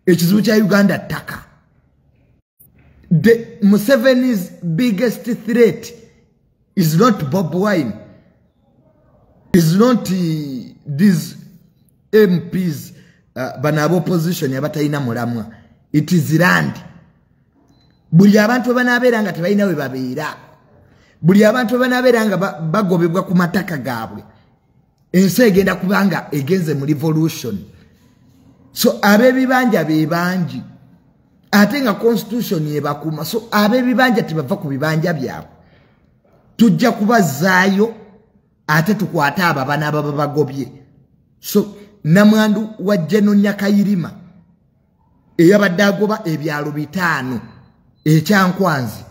ekizibu kya uganda ttaka the museveni's biggest threat is not bob wine is not eh, these mps uh, eh, bana abaopposition abatalina mulamwa it is land buli abantu webanabeera nga tebalina webabeera buli abantu webanabeera nga bagobebwa ku mataka gaabwe ensi egenda kubanga egenze mu revolution so abebibanja bebangi ate nga constitution yebakuma so abebibanja tebava ku bibanja byabwe tujja kubazaayo ate tukwate abo abana ababa bagobye so namwandu wa jeno nyakayirima eyabadde agoba ebyalo bitaano ekyankwanzi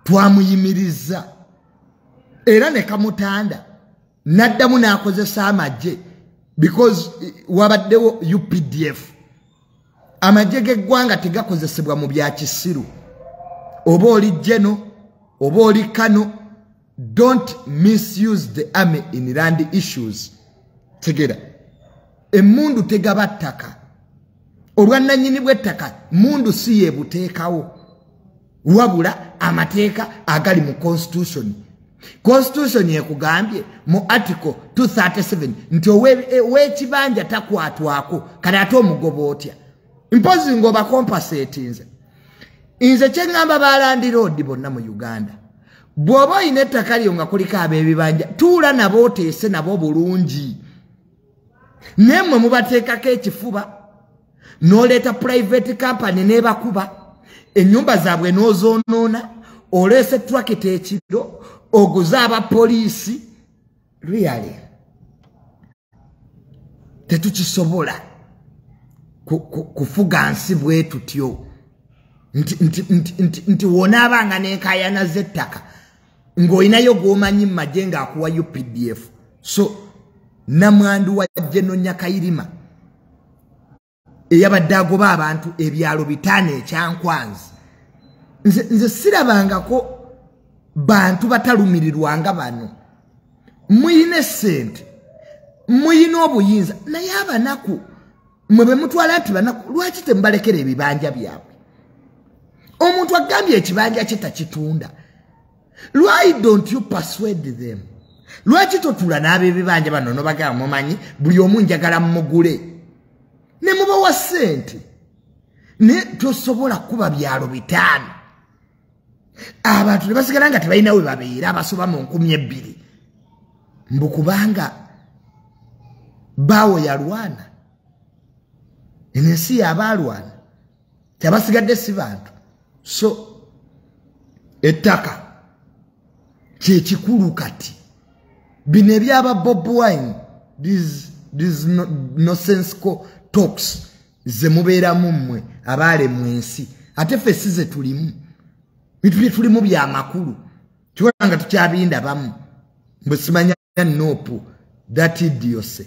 twamuyimirizza era ne kamutanda n'addamu n'akozesa amagye because eh, wabaddewo updf amagye g'eggwanga tegakozesebwa mu bya kisiru oba oli jeno oba oli kano don't misuse the army in land issues tegera emundu tegaba ttaka obwannanyini bw'ettaka mundu si yebuteekawo wabula amateeka agali mu constitution constitution ekugambye mu article 237 nti owekibanja takwatwako kale ate omugoba otya mpozi ngaobakompasetinze nze kyeŋŋamba balandiroodi bonna mu uganda bw'oba olina ettaka lyo nga kuliko ab'ebibanja tuula nabo oteese nabo bulungi naye mmwe mubateekako ekifuba n'oleeta purayiveti kampani n'ebakuba ennyumba zaabwe n'ozoonoona oleese turakita ekiro oguze abapoliisi riyale tetukisobola kufuga nsi bwetutyo nti wonaabanga nenkayana z'ettaka ng'olinayo gwomanyi mumagye ng'akuwa updf so namwandu wa jenonya kayirima eyabadde agoba abantu ebyalo bitaano ekyankwanzi nze sirabangako bantu batalumirirwa nga bano muyina esente muyina obuyinza naye abanaku mwe bemutwala nti banaku lwaki temubalekera ebibanja byabwe omuntu agambye ekibanja kye takitunda why don't you persuade them lwaki totula n'abebibanja bano nobagala mumanyi buli omu njagala mumugule ne mubawa sente naye tosobola kuba byalo bitaano abantu ne basigala nga tebalina we babeera abasoba mu nkumi ebbiri mbu kubanga baawo yalwana enensi yabaalwana tebasigadde si bantu so ettaka kyekikulu kati bino ebyaba bob wine nosensical talks zemubeeramu mmwe abaale mu ensi ate ffe si ze tulimu bituli tulimu byamakulu kiwona nga tukyabindabamu mbwe simanya and Nopu, that idiocy.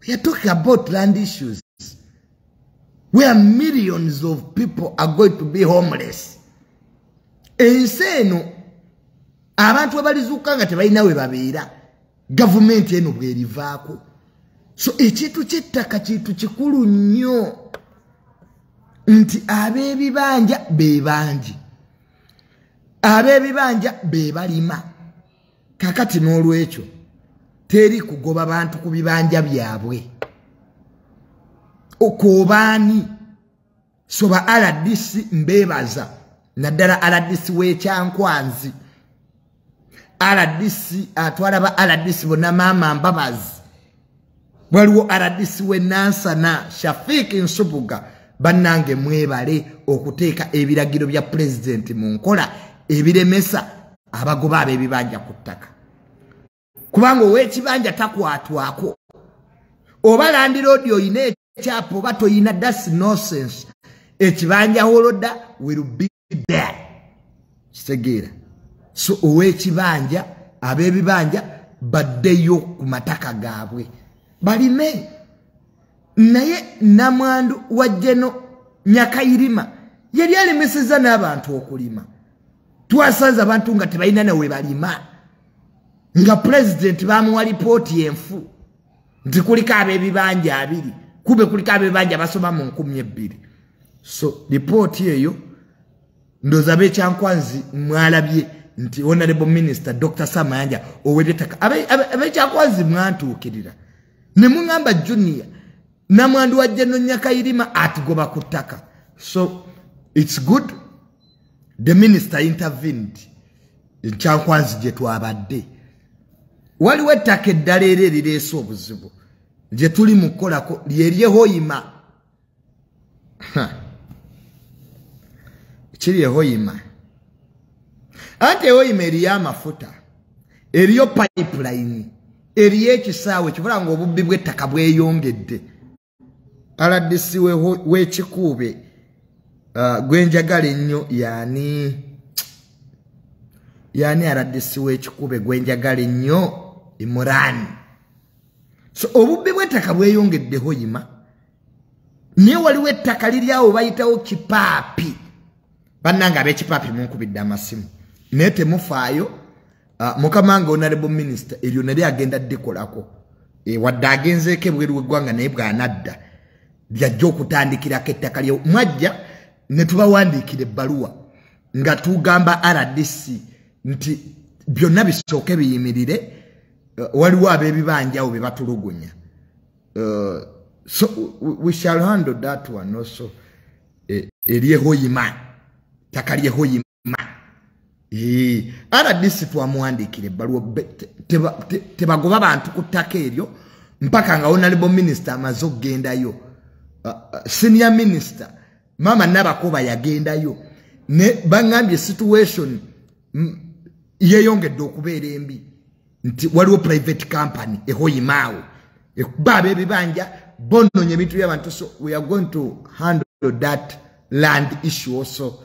We are talking about land issues where millions of people are going to be homeless. Ensi eno abantu abalizuuka nga tebalina we babeera gavumenti eno bwerivaako so ekintu kyettaka kintu kikulu nnyo nti ab'ebibanja be bangi ab'ebibanja be balima kakati n'olwekyo teri kugoba bantu ku bibanja byabwe okwobaani soba rdc mbeebaza naddala rdc w'ekyankwanzi rdc atwala ba rdc bona maama mbabazi waliwo rdc we nansana shafik nsubuga bannange mwebale okuteeka ebiragiro bya pulezidenti mu nkola ebiremesa abagoba ab'ebibanja ku ttaka kubanga ow'ekibanja takwatwako oba landiroodi olina ekyapa oba tolina das nosense ekibanja holoda will be there kitegeera so owekibanja abebibanja baddeyo ku mataka gaabwe balime naye namwandu wa jeno nyakayirima yali alemeseza n'abantu okulima twasanze abantu nga tebalina nawe balima nga pulezidenti bamuwa lipooti enfu nti kuliko ab'ebibanja abiri kube kuliko ab'ebibanja basoma mu nkumi ebbiri so lipooti eyo ndoza abekyankwanzi mwalabye nti honorable minister dr samayanja owebyetaka abekyankwanzi mwantuukirira ne muŋamba junior namwandu wa jeno nyakayirima atugoba ku ttaka so it's good the minister intervened nkyankwanzi gye twabadde waliwo ettaka eddala era erireese obuzibu gye tuli mu kukolako lyeryehoyima kiri ehoyima anti ehoyima eriyo amafuta eriyo pipeline eriyo ekisaawe kibula ngaobubbi bw'ettaka bweyongedde rdc w'ekikuube uh, gwenjagala ennyo yaani yaani rdc w'ekikuube gwenjagala ennyo imurani so obubbi bw'ettaka bweyongeddeho yima naye waliwo ettaka liri awo bayitawo kipaapi bannanga ab'ekipaapi munkubidde amasimu naye temufaayo ah, mukama nga onalebo minisita eryo nali agenda dikolako eh, wadde agenzeeko ebweru weggwanga naye bwanadda lyajja okutandikirako ettaka lye mwajja ne tubawandiikira ebbaluwa nga tugamba rdc nti byonna bisooke biyimirire eh, waliwo ab'ebibanjawo bye batulugunya eh, so we shall handle that one also eh, eryehoyima ttaka lyehoyima ma rdc twamuwandiikira ebbaluwa tebagoba bantu ku ttaka eryo mpaka nga onalebo minisita amaze okugendayo uh, uh, senior minisita maama nabakoba yagendayo ne baŋambye situation yeyongedde okubeera embi nti waliwo private company ehoyimaawo ekuba abebibanja bononye ebintu byabantu so we are going to handle that land issue also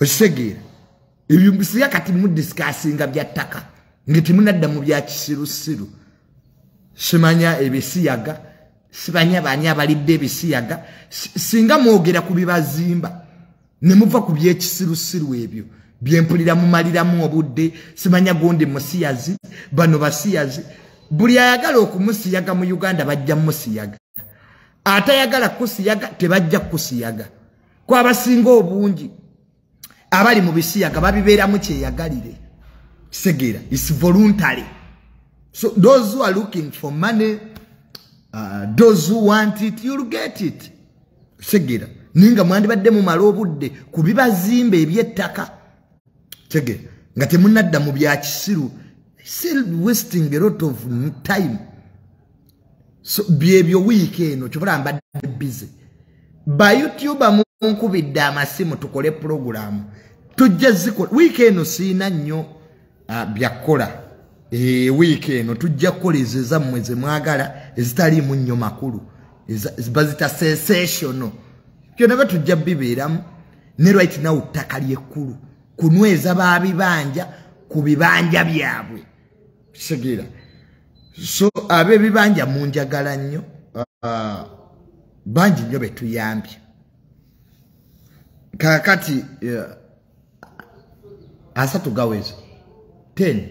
okitegeera ebyo bisiga kati mudisikasinga bya ttaka nga temunadda mu bya kisirusiru simanya ebisiyaga sibanya baani abalidde ebisiyaga singa mwogera ku bibazimba ne muva ku byekisirusiru ebyo byempulira mumaliramu obudde simanya gundi musiyazi bano basiyazi buli ayagala okumusiyaga mu uganda bajja musiyaga atayagala kusiyaga tebajja kusiyaga kwabasinga obungi abali mu bisiyaga babibeeramu kyeyagalire kisegeera is voluntary so those who are looking for money uh, those who want it you'll get it kisegeera naye nga mwandibadde mumala obudde ku bibazimba ebyettaka kisegeera nga temunadda mu byakisiru still wasting a lot of time so byebyo wiiki eno kyobola mbadde bize bayoutube munkubidde amasimu tukole pulogulaamu tujja zikola wiiki eno siina nnyo ah, byakukola ee eh, wiiki eno tujja kukola ezo ezammwe zemwagala ezitaliimu nnyo makulu bazita sensational byonna batujja bibeeramu ne right now ttaka lyekkulu kunyweza babibanja ku bibanja byabwe kitegeera so abebibanja munjagala nnyo ah, bangi nnyo betuyambye kakati eh, asatu gaweza ten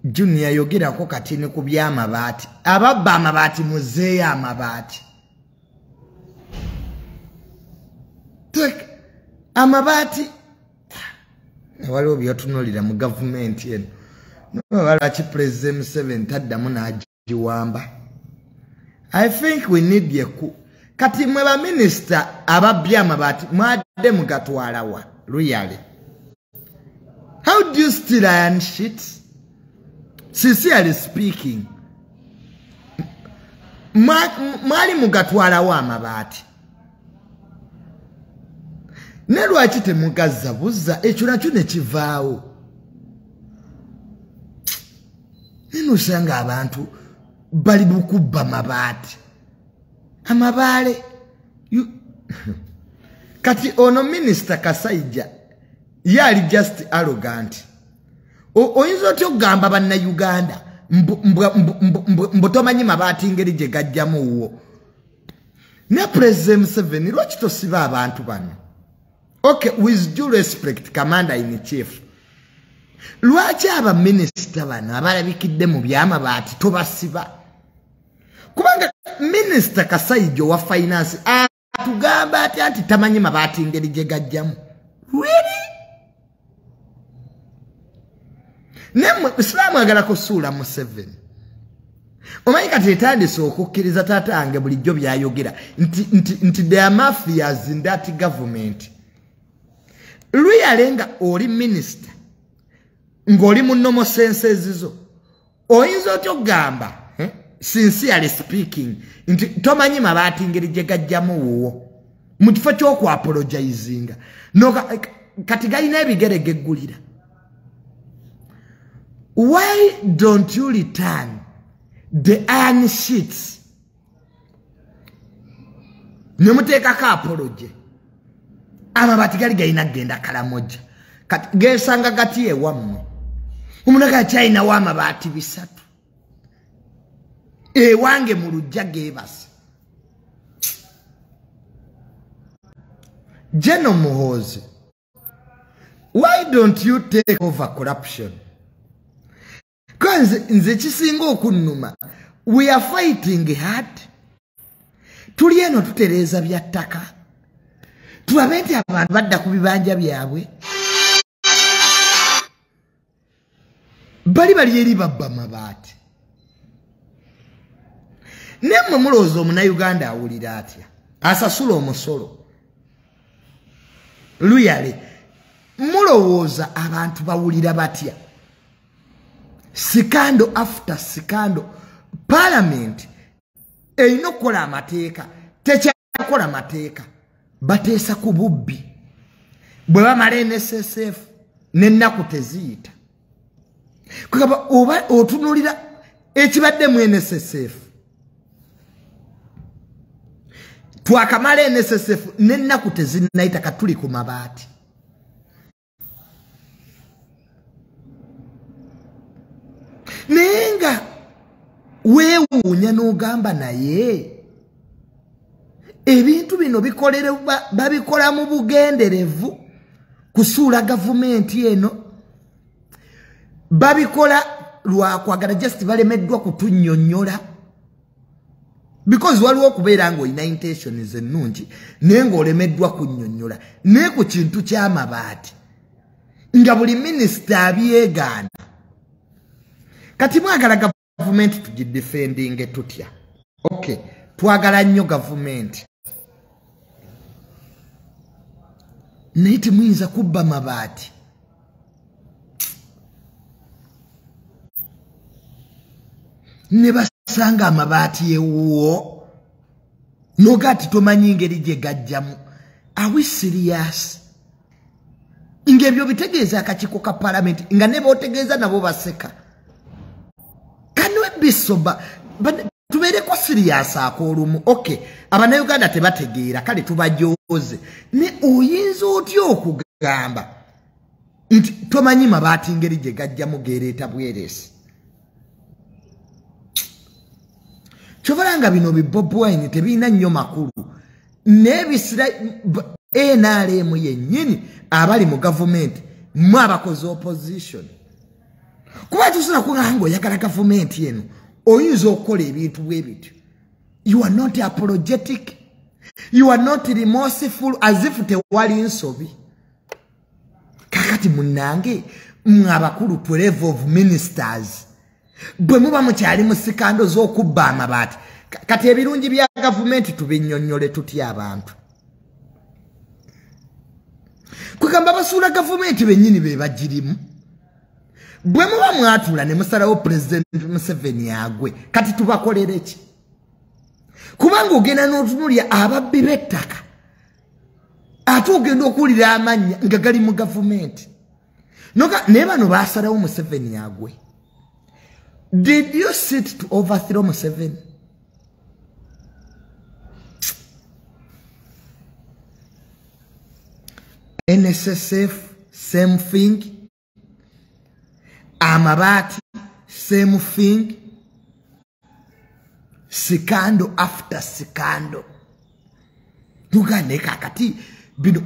junior yogerako kati ne ku byamabaati ababba amabaati muzeeyo amabaati amabaati waliwo byotunulira mu gavumenti eno nobaba lwaki pulezidenti museveni taddamu n'agiwamba i think we need yeku kati mwe baminisita ababbi amabaati mwadde mugatwalawa luyale how do you still iron shit sincerely speaking mwali mugatwalawo amabaati ne lwaki temugazza buzza ekyo nakyo ne kivaawo nene osanga abantu bali bukubba mabaati amabaale kati ono minisita kasaija ye ali just arrogant oyinza otya okugamba bannayuganda mbutomanyi mabaati ngeri gye gajjamu wuwo ne pulezida museveni lwaki tosiba abantu bano okay with due respect commander in chief lwaki abaminisita bano abalabikidde mu byamabaati tobasiba kubanga minisita kasaijo wa finance atugamba atya nti tamanyi mabaati ngeri gye gajjamu really naye mwe isiraamu agala kusuula museveni omanyi kati etandise okukkiriza taata yange bulijjo byayogera nti, nti, nti the mafias in that government luyale nga oli minisita ng'oli mu nomosense ezizo oyinza otya okugamba eh, sincerely speaking nti tomanyi mabaati ngeri gye gajjamu wuwo mu kifo kyokuapologizinga kati galina ebigere geggulira why don't you return the iron sheets ne muteekako apoloje amabati gali galina kugenda kalamoja kati gesanga gati ewammwe omunaga akyalinawo amabaati bisatu ewange mu lujja gebase jeno muhoozi why don't you take over corruption kanze nze kisinga okunnuma we are fighting hard tuli eno tutereeza bya ttaka tulabe nti abantu badda ku bibanja byabwe bali bali eri babba mabaati naye mwe mulowooza omunayuganda awulira atya asasula omusolo luyale mulowooza abantu bawulira batya sikando after sikando palamenti erina okukola amateeka tekyakola mateeka bateesa ku bubbi bwe bamala nssf nennaku teziyita kugamba oba otunulira ekibadde mu nssf twakamala nssf nennaku tezinayita katuli ku mabaati naye nga weewuunya n'ogamba naye ebintu bino bikolerwa babikola mu bugenderevu kusuula gavumenti eno babikola lwakwagala just balemeddwa kutunyonyola because waliwo okubeera ng'olina intentions ennungi naye ng'olemeddwa kunnyonnyola naye ku kintu ky'amabaati nga buli minisita abyegaana kati mwagala gavumenti tugidefendinge tutya okay twagala nnyo gavumenti naye temuyinza kubba mabaati ne basanga amabaati ewuwo noga ti tomanyi ngeri gye gajjamu awi siriyasi ng'ebyo bitegeeza akakiiko ka palamenti nga ne bootegeeza nabo baseka kanwebbisoba tubeereko siriyasi ak'olumu oky abanauganda tebategeera kale tubajooze ne oyinza otya okugamba nti tomanyi mabaati ngeri gye gajjamu geereeta bweresi kyovala nga bino bibobwine tebirina nnyo makulu nebisira nrm yennyini abali mu gavumenti mwe abakoze opposition kuba tusobola kugaa nga oyagala gavumenti eno oyinza okukola ebintu bwe bityo you are not apologetic you are not remorseful as if tewali nsobi kakati munange mwe abakulu to level of ministers bwe muba mukyali mu sikando z'okubba amabaati kati ebirungi bya gavumenti tubinyonnyole tutya abantu kwegamba basuula gavumenti benyini bebagirimu bwe muba mwatula ne musalawo pulezidenti museveni agwe kati tubakolere ki kubanga ogenda n'otunulya ababbi b'ettaka ate ogenda okuwulira amannya nga gali mu gavumenti noka naye bano basalawo museveni agwe did you sit to overthrow museveni nssf same thing amabaati same thing sikando after sikando tuganeka kati bino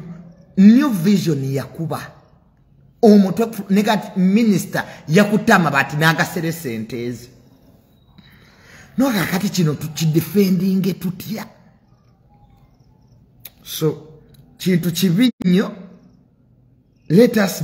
new vision yakuba omutwe negat minister yakutama bati nagasere sentezi noka kati kino tukidefendinge tutya so kintu kibi nnyo let us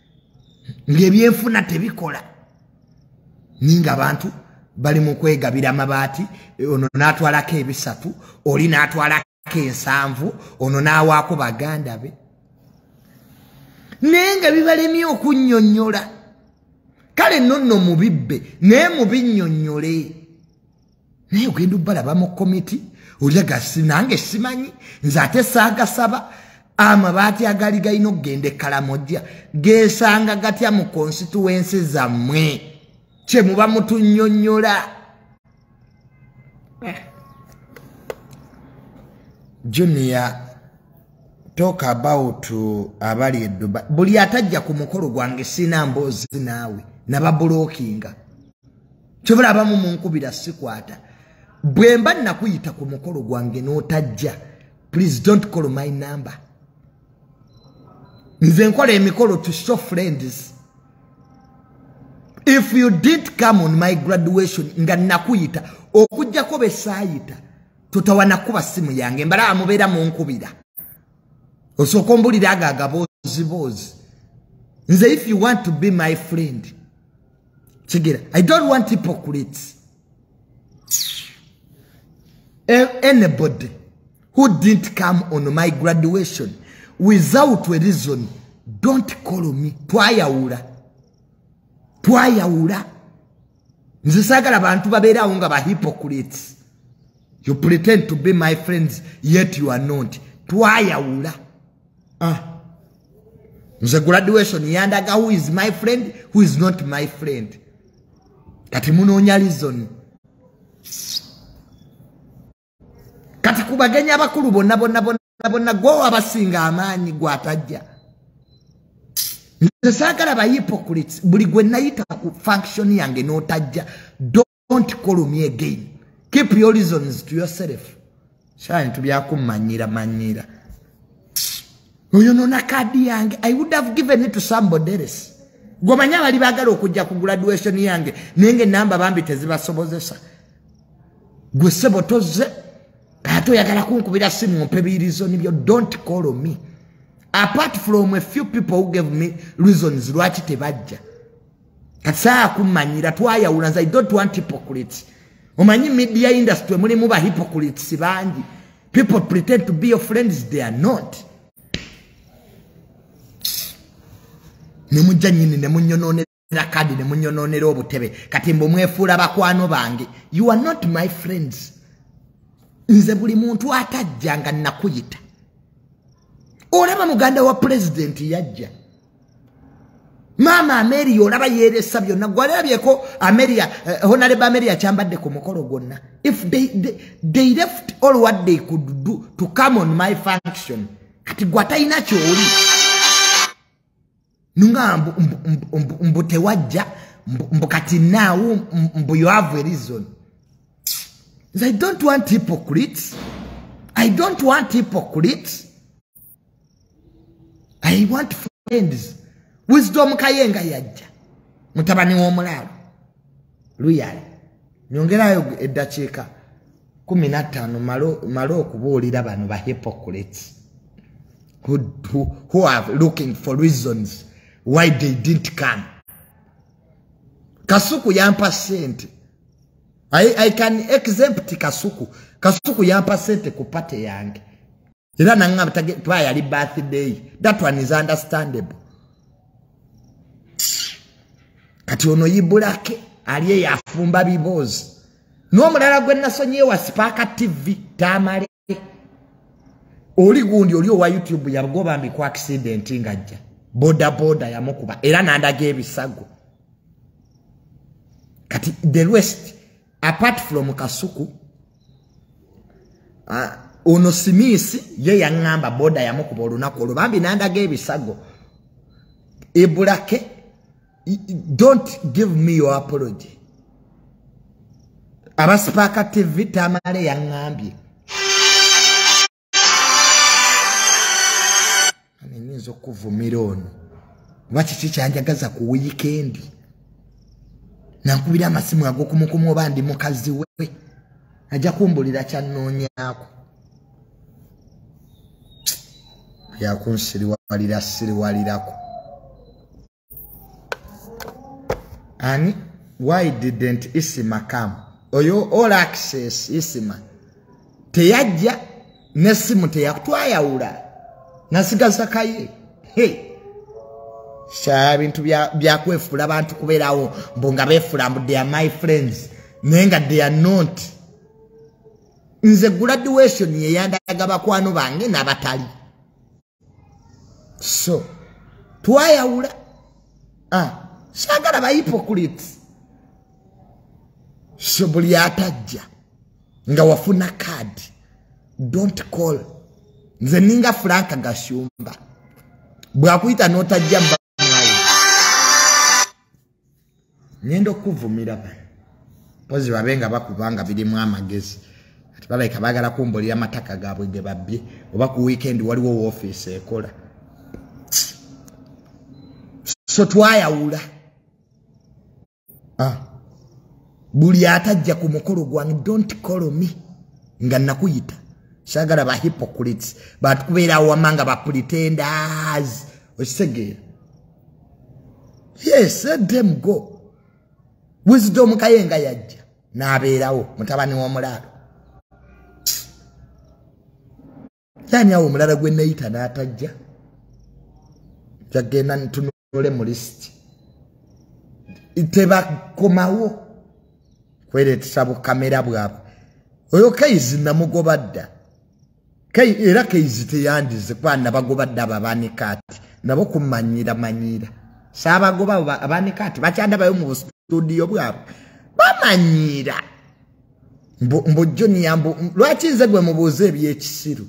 ng'ebyenfuna tebikola naye ng'abantu bali mu kwegabira amabaati ono n'atwalako ebisatu oli n'atwalako ensanvu ono n'awaako baganda be naye nga bibalemye okunnyonnyola kale nonno mubibbe naye mubinnyonnyole naye ogenda obalaba mu komiti olyaga sinange simanyi nze ate saagasaba amabaati agaali galina okugenda ekkalamojja geesanga gatya mu konsituwensi zammwe kye muba mutunyonyola eh. junior talk about abali eduba buli atajja ku mukolo gwange sina mboozi naawe nababulookinga kyobola abamu munkubira sikwata bwemba nakuyita ku mukolo gwange notajja please don't call my number nze nkola emikolo to show friends if you did come on my graduation nga nakuyita okujjako besayita totawana kuba simu yange mbala amubeera munkubira osooka ombulira ago agaboozi boozi nze if you want to be my friend kigera i don't want hypocrites anybody who didn't come on my graduation without a reason don't call me twayawula twayawula nze sagala bantu babeerawo nga ba hypocrites you pretend to be my friends yet you are not twayawula ah. nze graduation yandaga who is my friend who is not my friend kati munoonya lizoni kati ku bagenyi abakulu bonna bonna bonna bonna gwowo abasinga amaanyi gwatajja nze saagala bayipokulits buli gwe nayita ku function yange n'otajja don't call me again keep your reasons to yourself shine to bya kumanyira manyira oyo nona kadi yange i would have given it to somebody else gwomanya abali bagala okujja ku graduation yange naye nga enamba bambi tezibasobozesa gwe sebo tozze ate oyagala kunkubira simu mpe birizoni byo don't call me apart from a few people who gave me reasons lwaki tebajja kasaa kumanyira twayawula nze i don't want hypocrites omanyi media industry mulimu ba hypocrites bangi people pretend to be your friends they are not nemujja nyini nemunyononera kadi nemunyononera obutebe kati mbu mwefuula bakwano bange you are not my friends nze buli muntu atajja nga nakuyita olaba muganda wa pulezidenti yajja maama ameria olaba yeresa byonna gwalabyeko ameria eh, honaleba ameria kyambadde ku mukolo gwonna if they, they, they left all what they could do to come on my function kati gwatalina kyoli nunga mbu tewajja mbu kati naawo mbu you have a reason i don't want hypocrites i don't want hypocrites i want friends wisdom kayenga yajja mutabani w'omulaalo luyali nyongerayo eddakiika kumi nattaano male okubuulira bano ba hypocrites who, who, who are looking for reasons why they didn't come kasuku yampa sente I, i can exempt kasuku kasuku yampa sente ku pate yange era nangamba kuba yali birthday that one is understandable kati ono yibulake ali eyo afumba biboozi n'omulala gwe nasonyiye wa sipaaka tv tamale oli gundi oli owa youtube yagoba mbiku accident ngajja bodaboda yamukuba era nandaga ebisago kati the rest apart from kasuku uh, ono simisi ye yaŋŋamba boda yamukuba olunaku olwo bambi nandaga ebisago ebulake don't give me your apology abasipaaka tv tamale yaŋŋambye nyinza okuvumira ono oba kiki kyanjagaza ku wiikendi nankubira amasimu agokumukumu oba ndi mukazi we ajja kumbulira kyanoonyaako yakunsiriwalira siriwalirako ani why didn't isima come oyo all access isima teyajja nesimu teyakutwayawula nasigaza kaye hey. sha bintu byakwefula bantu kuberawo mbu nga befula mbu they are my friends naye nga they are not nze graduation yeyandaga bakwano bange nabatali so twayawula ah, sagala bahipokuliti so buli atajja nga wafuna kaadi dont call nze ninga franka gashumba bwakuyita notajja ngenda okukuvumira bano mpozi babe nga bakubanga birimu amagezi kati balabika bagala kumbulira amataka gaabwe ge babbye oba ku wiikendi waliwo woofiisi ekola so twayawula ah. buli atajja ku mukolo gwange dont call me nga nakuyita sagala ba hypocrites bantu kubeera awama nga bapretenders okitegeera yes let them go wisdom kaye nga yajja n'abeerawo mutabani w'omulaalo yani awo omulala gwe neyita n'atajja jagenda ntunule mu lisiti tebakomawo kweretesa bukamera bwabwe oyo kaizi namugoba dda era kaizi teyandize kwana bagoba dda ababanika ati nabo kumanyira manyira saabagoba abanika ati bakyadabayo mu bustudiyo bwabwe bamanyiira mbu junior mbu lwaki nze gwe mubuuza ebyekisiru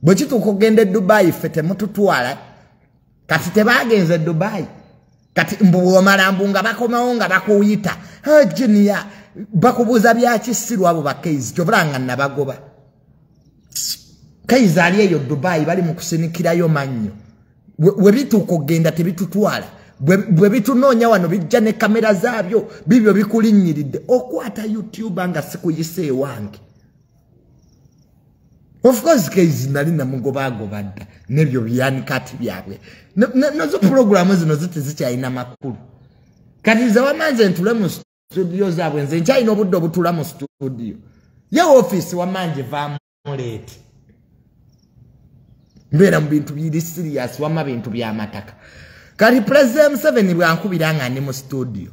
bwe kituuka okugenda e dubayi ffe temututwala kati tebagenze e dubayi kati mbu bwomala mbu nga bakomawo nga bakuyita ah, junior bakubuuza byakisiru abo bakaizi kyobula nga nabagoba kaizi ali eyo dubayi bali mu kusinikirayo mannyo we bituuka okugenda tebitutwala bwe bitunoonya wano bijja ne kamera zaabyo bibyo bikulinnyiridde okwata youtuba nga sikuyisa ewange ofcourse kaizi nali namugobaagoba dda nebyo byanikati byabwe nazo pulogulaamu zino ziti zikyalina makulu kati nze wamanze ntule mu situdiyo zaabwe nze nkyalina obudde obutula mu situdiyo ye ofiisi wamange vaamu leeti mbeera mu bintu biri siriyasi wamma bintu by'amataka kati pulezidenti museveni bwankubira nga ndi mu situdiyo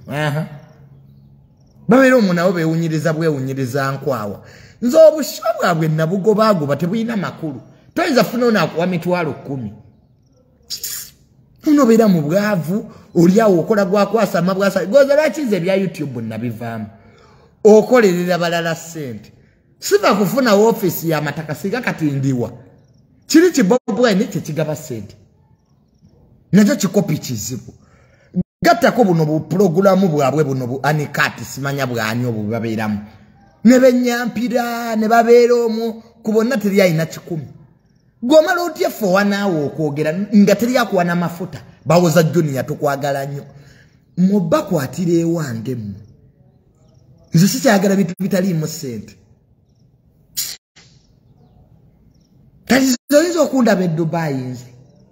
babeera omu nabo bewunyiriza bwewunyiriza nkwawa nze obusha bwabwe nabugobaagoba tebulina makulu toyinza funa onakuwa mitwalo kkumi unobeera mu bwavu oliawo okola gwakwasama bwasa goza lwaki nze ebya youtube nabivaamu okolerera balala ssente siva kufuna wofiisi yamataka singa kati ndiwa kiri kibobwene kyekigaba sente nakyo kikopi kizibu gattako buno bupulogulamu bwabwe buno bu anikati simanya bwani obwo bwebabeeramu ne benyampira ne babeera omwo ku bonna teri alina kikumi gwomala otya ffe owanaawe okwogera nga teri akuwa namafuta bawoza juniya tukwagala nnyo mubakwatira ewange mmwe nze sikyagala bintu bitaliimu sente katizoyinza okundaba edubayi nze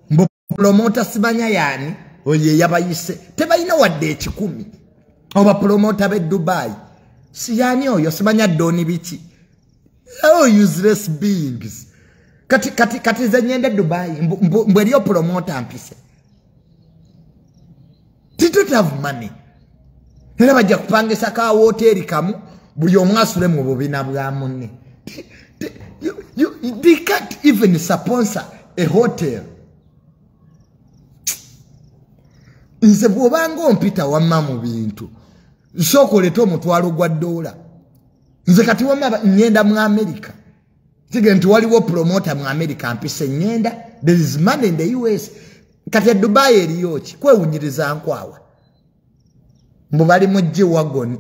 mbupulomota simanya yaani oyo eyabayise tebalina wadde ekikumi obapulomota bedubayi siyaani oyo simanya doni biki oh useless beings kati kati kati nze nyende dubai mbu eriyo promota mpise didn't have money era bajja kupangisa ka woteeri kamu buli omu asule mu bubina bwa munne they can't even sponsor a hotel nze bw'obanga ompita wamma mu bintu nsooka oleta omutwalo gwa doola nze kati wama ngenda mu america tige nti waliwo promota mu america mpise ngenda there is money in the us kati edubayi eriyoki kwewunyiriza nkwawa mbu bali mu g wagon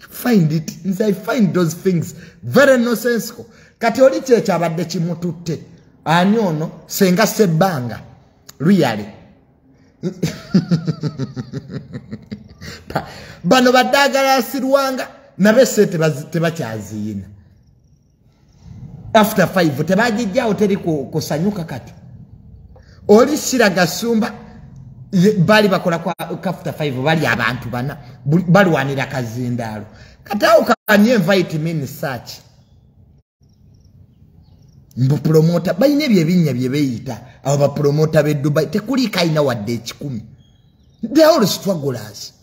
find it nze i find those things very nosensical kati oli kyekyabadde kimututte ani ono senga sebbanga luyale bano badagala asirwanga nabe se tebakyaziyina after five tebagijjawo teri kusanyuka kati oli sira gasumba bali bakola kafta five bali abantu bana balwanira kazindaalo kati awo kanye invite me in search mbu promota balina ebyo ebinnya bye beeyita abo bapromota b'e dubai tekuliiko alina wadde ekikumi the all strugglers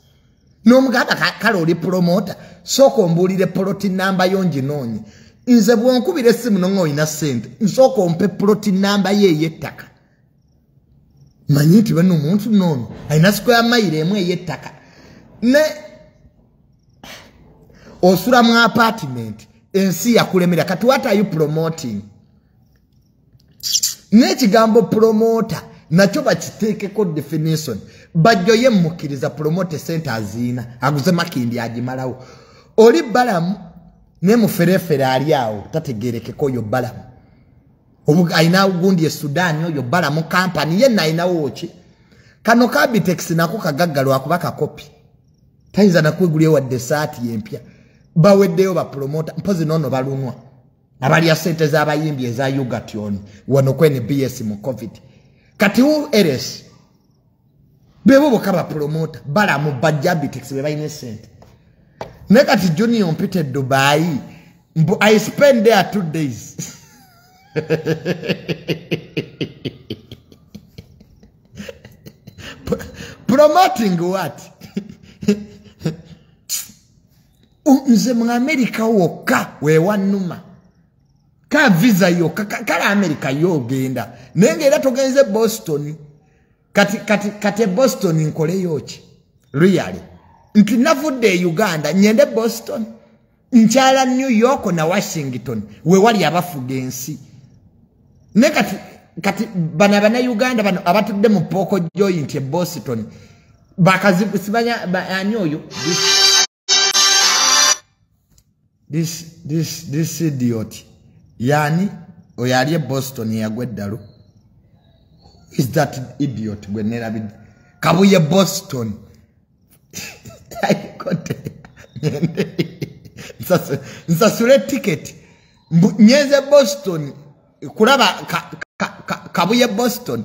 n'omugamba kale oli promota sooka ombuulire poloti namba yo nginoonye nze bwonkubira essimu nonga olina ssente nsooka ompe poloti namba yo ey'ettaka manyi nti bano omuntu noono alina square maire emu eyettaka ne osula mu apartment ensi yakulemera kati what are you promoting n'ekigambo promota nakyo bakiteekeko definition bajjo ye mukkiriza promote sente aziina aguze makindi agimalawo oli balamu ne muferefere ali awo tategerekeko oyo balamu alinawo gundi e sudan oyo bala mu kampani yenna alinawo ki kano kabitex nako kagagga lwakuba kakopi tayinza nakwegulya wadde esaati yempya baweddeyo bapulomota mpozi noono balunwa abalya sente z'abayimbi eza ugatyoni wano kwene bs mu covid kati u eres bebo boka ba promoter bala mu bajabitex be bayine sente ne kati junior mpite dubai mbu i spend there two days promoting what nze mu amerika wokka wewanuma ka visa yokka kale amerika yo ogenda naye ngaera togenze boston kati kati kati e boston nkoleyo ki really nti navudde e uganda nyende boston nkyala new york na washington wewali abafuga ensi ne kati kati bana bana uganda bano abatudde mu pooko joint e boston bakazibusibanya ani oyo this, this, this idiot yani oyo ali e boston yagwa eddalu is that idiot gwe nerabidde kabuye boston nsasule ticket nyenze boston kulaba kabuye boston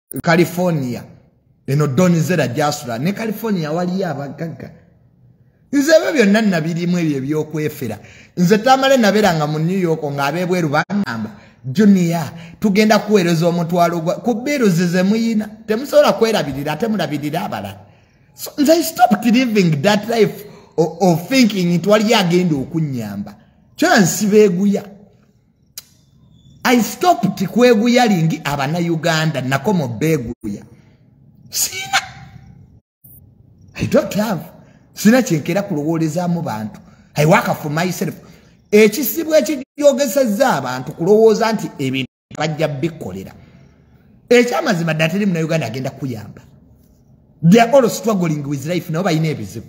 california eno donizera gyasula ne california waliyo abagagga nze ebyo byonna nabirimu ebyo ebyokwefera nze tamale naberanga mu new york ng'abebweru banamba junia tugenda kuweereza omutwalo gwa ku biruzi ze muyina temusobola kwerabirira ate mulabirira abalala so nze i stopped living that life of thinking nti waliyo agenda okunnyamba kyona nsibeeguya i stopped kweguyalingi abana uganda nakomo beguya sina i don't have sina kyenkera kulowolezamu bantu i work for myself ekisibu ekijogeseza abantu kulowooza nti ebintu bajja bikolera ekyamazima ddala teri munauganda agenda kuyamba theall struggling with life nabo balina ebizibu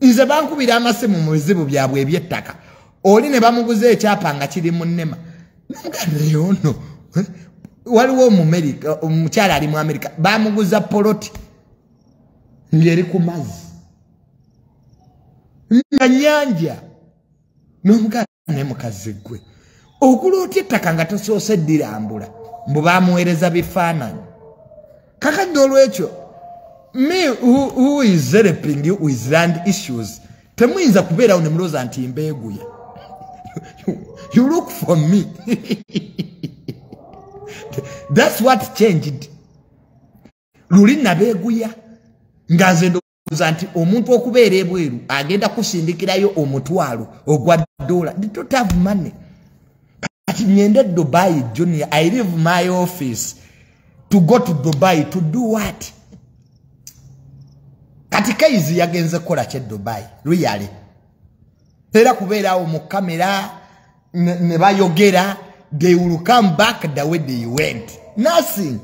nze bankubira amasimu mu bizibu byabwe ebyettaka oli ne bamuguza ekyapa nga kiri mu nema namuganeyono eh? waliwo omumerika omukyala ali mu amerika bamuguza poloti ngeri ku mazzi nga nyanja nomuganda ne mukazi gwe okula otya ettaka nga tosoose ddirambula mbu bamuweereza bifaananyi kakadde olwekyo me who is helping you with land issues temuyinza kubeerawo ne mulooza nti mbeeguya you look for me that's what changed luli nabeeguya nga nze ndowooza nti omuntu okubeera ebweru agenda kusindikirayo omutwalo ogwa dola ditotav money kati nyende dubai junior i live my office to go to dubai to do what kati kaizi yagenze kukola kye dubai luyale era kubeerawo mu kamera ne bayogera they will come back the way they went nothing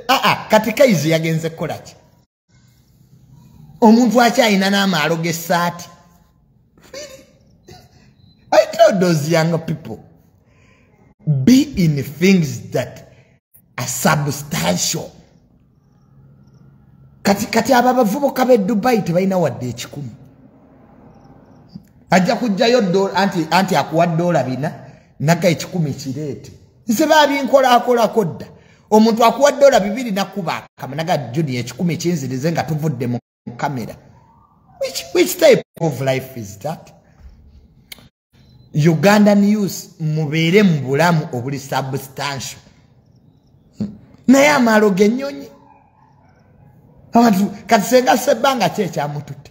ah, ah, kati kaizi yagenze kukola ki omuntu akyalina n'amaalo g'essaati i tell those young people be in things that are substantial kati kati abo abavubuka b'e dubayi tebalina wadde ekikumi ajja kujjayo anti akuwa doola bina naga ekikumi kireete nze babinkola akolako dda omuntu akuwa dola bibiri nakuba akamanaga juni ekikumi kinzirize nga tuvudde mu kamera which, which type of life is that ugandan us mubeere mu bulamu obuli substantial naye amaalo genyonyi abantu kati senga sebbanga ki ekyamututte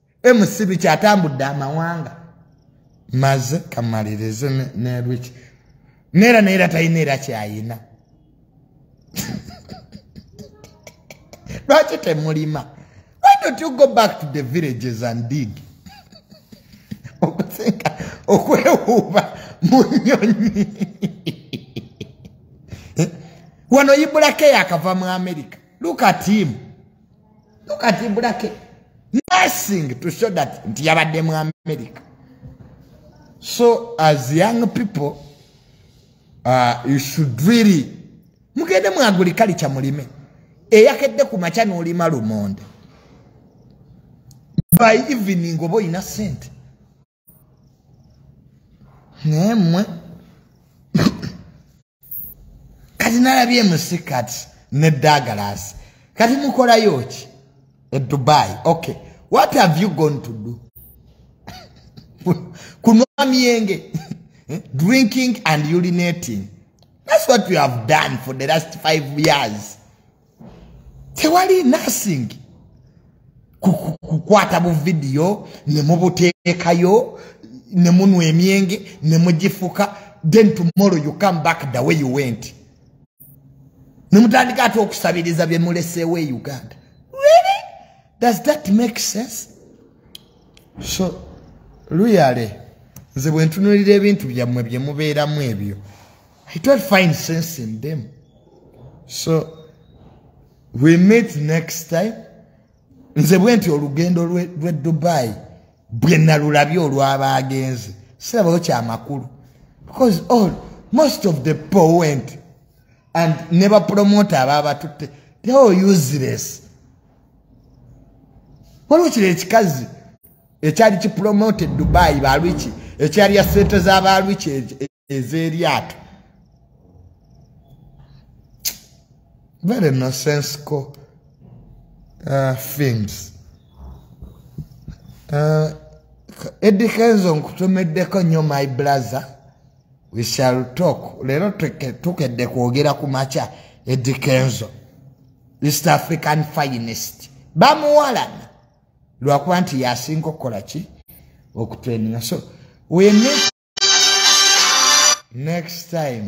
emusibi kyatambudde amawanga maze kamalirize nelwiki neera neera talina era kyayina lwaki temulima why don't you go back to the villages and dig okusinga okwewuuba mu nyonyi wano ibulake yakava mu america look at him Look at him, Burake. Nothing to show that nti yabadde mu America. So as young people, uh, you should really mugende mu agriculture mulime. Eyakedde ku macha n'olima lumonde. By evening oba olina sente. naye mmwe kati nalabye emusi kati ne dagalasi kati mukolayo ki e dubai ok what have you gone to do kunwa myenge eh, drinking and urinating that's what you have done for the last five years tewali nursing kukwata buvidiyo ne mubuteekayo ne munwa emyenge ne mugifuka then tomorrow you come back the way you went ne mutandika ate okusabiriza bye muleseewo e uganda really does that make sense so luyale nze bwe ntunulira ebintu byammwe bye mubeeramu ebyo I don't find sense in them. So we meet next time. Nze bwenti olugendo lwe Dubai bwe nalulabye olwaba agenze. Sirabayo kya makulu. Because all most of the poor went and never promote ababa tutte. They all useless. Waliwo kile ekikazi ekyali ki promoted Dubai ba Richie ekyali ya sente za ba Richie ez'eryato very nonsensical uh, things uh, eddie kenzo nkutumiddeko nnyo my brother we shall talk leero tukedde kwogera ku makya eddie kenzo east african finest bamuwalana lwakuba nti yasinga okukola ki okutreninga so we need next time